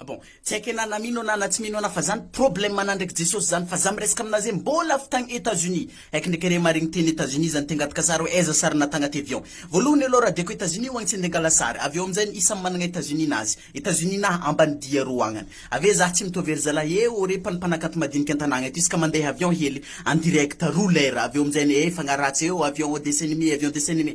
Ah bon, tsy haiko ianà na mino anà na tsy mino anà fa zany problème anà ndraiky Jesosy zany fa za miresaka aminà zay mbôla avy tagny Etats Unis. Haiko ndraiky re marigny teny Etats Unis zany tengatika sary hoe aiza sarinà tagnati avion. Vôlohany aloha raha diako Etats Unis ho agny tsy ndengala sary avy eo amin'zaigny isa managna Etats Unis nazy. Etats Unis na ambany dia roa agnany. Ave zah tsy mitovy ery zalahy eh ô re mpano mpanakanto madiniky an-tanàgna eto isaka mandeha avion hely en direct roa lera avy eo amin'zaigny eh fagnaraha tsy eh ô avion ô dessin anime avion dessin anime.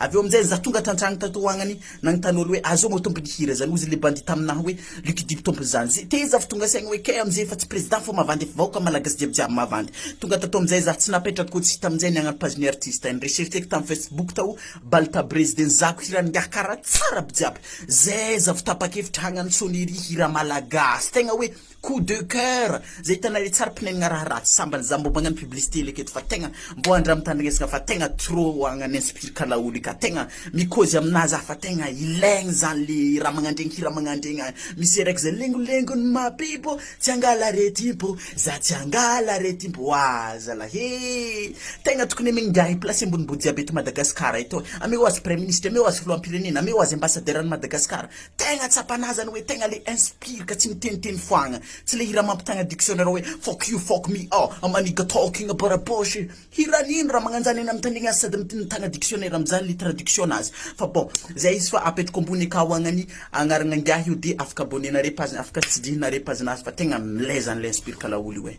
Avy eo amin'izay za tonga tantragny tato ho agnany nagnontany olo hoe azao moa tompon'ny hira zany ozy le bandit taminah hoe lucky dube tompon'izany ze teza avy tonga saigny hoe kay amin'izay efa tsy président fa mavandy efa vahoka malagasy jiaby jiaby mavandy tonga tato amin'izay za tsy napetrako koa tsy hita amin'izay ny agnara page ny artiste nirechercheko tam facebook tao baltabrezy de nizahako hira nigaha kara tsara aby jiaby zay za vao tapakevitra hagnano sonnerie hira malagasy tegna hoe Coup de coeur zay hitanay le tsara pnegnina raha ratsy sambany za mbo magnano publicité ilay keto fa tegna mbo andramintandregnesana fa tegna trop agnany inspire ka laolo io ka tegna mikôzy aminah za fa tegna ilaigny zany le raha magnandregny hira magnandregny misy araiky zay lengolengony mahabibo tsy angala aretimpo za tsy angala aretimpo oa zalah e tegna tokony amegny ngiahy place ambonimbony jiaby eto Madagasikara eto ameo azy praiministra ameo azy filohampirenena ameo azy ambassadeur any Madagasikara Tegna tsapanà zany hoe tegna le inspire ka tsy miteniteny foagna. Tsy le hira mampitagna dictionnaire hoe fuck you fuck me ah ah my nigga talking about a poche. Hiran'ino raha magnanjany eny amin-tany eny aza sady mitagna dictionnaire amin'izany le traduction-nazy. Fa bon, zay izy fa apetako ambony akao agny ny agnaran'ingahy io dia afaka abonner-nareo page-ny, afaka tsidihina-nareo page-nazy fa tegna milay zany le inspire ka laolo io eh.